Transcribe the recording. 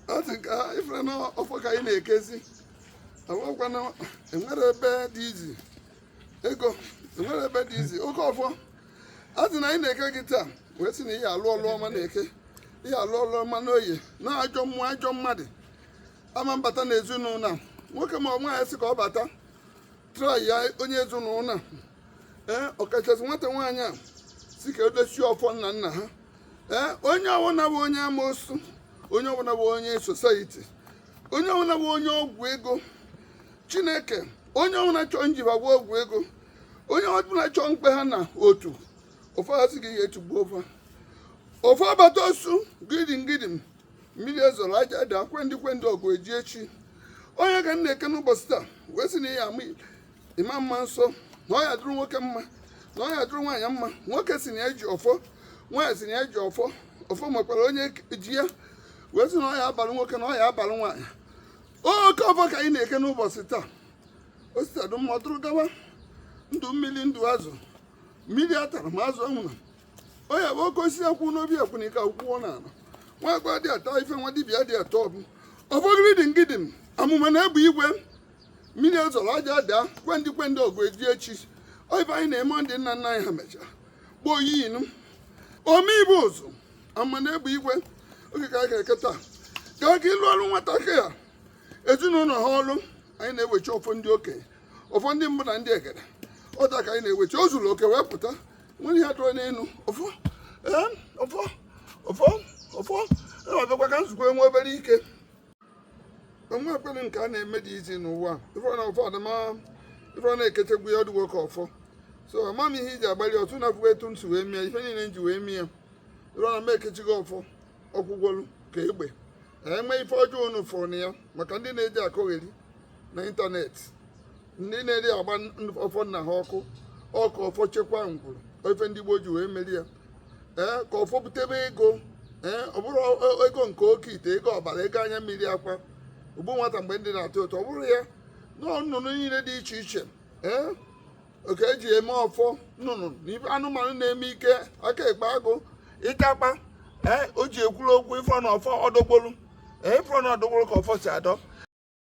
ọ dị ka ị fụrụ na ọfọ ka anyị na-ekezi awakwana enwere ebe dị izi ego enwere ebe dị izi oke ọfọ a sị na anyị na-eke gị taa wee sị na ị ya-alụ ọlụ ọma n'Eke ị ya-alụ ọlụ ọma n'Oye na ajọ mmụọ ajọ mmadụ ama abata na ezinụlọ a. nwoke ma ọ nwaanyị sị ka ọ bata trai ya onye ezinụlọ a. ee ọkachasị nwata nwaanyị a si ka edochie ọfọ nna nna ha ee onye ọbụla bụ onye amoosu onye ọbụla bụ onye society onye ọbụla bụ onye ọgwụ ego chineke onye ọbụla chọọ njiba bụ ọgwụ ego onye ọbụla chọọ mkpe ha na otu ọfọ a sị gị ga-etugbu ọfọ ọfọ abata osu gidim gidim mmiri ezoro aja daa kwendị kwendị ọgụ eji echi ọ ya ka m na-eke n'ụbọchị taa wee sị na ị ya-ama ịma mma nsọ na ọ ya-adịrị nwoke mma na ọ ya-adịrị nwaanyị mma nwoke si na ya ji ọfọ nwaanyị si na ya ji ọfọ ọfọ makwara onye ji ya wee sị na ọ ya-abalụ nwoke na ọ ya-abalụ nwaanyị oke ọfọ ka anyị na-eke n'ụbọchị taa o si taa dụ mma ọ dụrụ gawa ndụ mmiri ndụ azụ mmiri atala ma azụ anwụna ọ ya bụ oke osisi akwụ n'obi akwụnika akwụkwọ n'ala nwa agwa dị ata ife nwa dibịa dị atọ ọbụ ọfọ gidim gidim amụma na egbe igwe mmiri ezoro aja daa kwendị kwendị ọgụ eji echi ọ ife anyị na-eme ndị nna nna anyị ha mechara gboo yinu ome ife ụzụ amụma na egbe igwe oke ka a ga-eke taa ka aka ịlụ ọrụ nwatakịrị a ezinụlọ ha ọrụ anyị na-ewechi ọfọ ndị okenye ọfọ ndị mbụ na ndị egede ọ taa ka anyị na-ewechi o zuru oke wee pụta nwere ihe a tụrụ n'elu ọfọ ee ọfọ ọfọ ọfọ na-abịakwa ka m zukwuo nwa obere ike o nwe ekpere nke a na-eme dị izi n'ụwa ife na ụfọdụ ma ife ọ na-ekechegbu ya ọ dụgwo ka ọfọ so ama m ihe iji agbalị ọtụ na afụwa etu m si wee mie ife niile m ji wee mie ị fụ na m ekechighị ọfọ ọ kwụgwolu ka egbe enwe ife ọjọọ unu fụrụ na ya maka ndị na-eji akọgheri na ịntanetị ndị na-eje agba ọfọ nna ha ọkụ ọ ka ọfọ chekwa ngwuru ọ ife ndị gboo ji wee meri ya ee ka ọfọ butebe ego ee ọ bụrụ e, ego nke oke ite ego ọbara ego anya mmiri akwa ogbu nwata mgbe ndụ na-atọ ụtọ ọ bụrụ ya na nnụnụ niile dị iche iche ee ọ ka e ji eme ọfọ nnụnụ na anụmanụ na-eme ike aka ekpe agụ ịtakpa ee o ji ekwuru okwu ị fụ na ọfọ ọdọgbolu ee ị fụ na ọdọgbolu ka ọfọ si adọ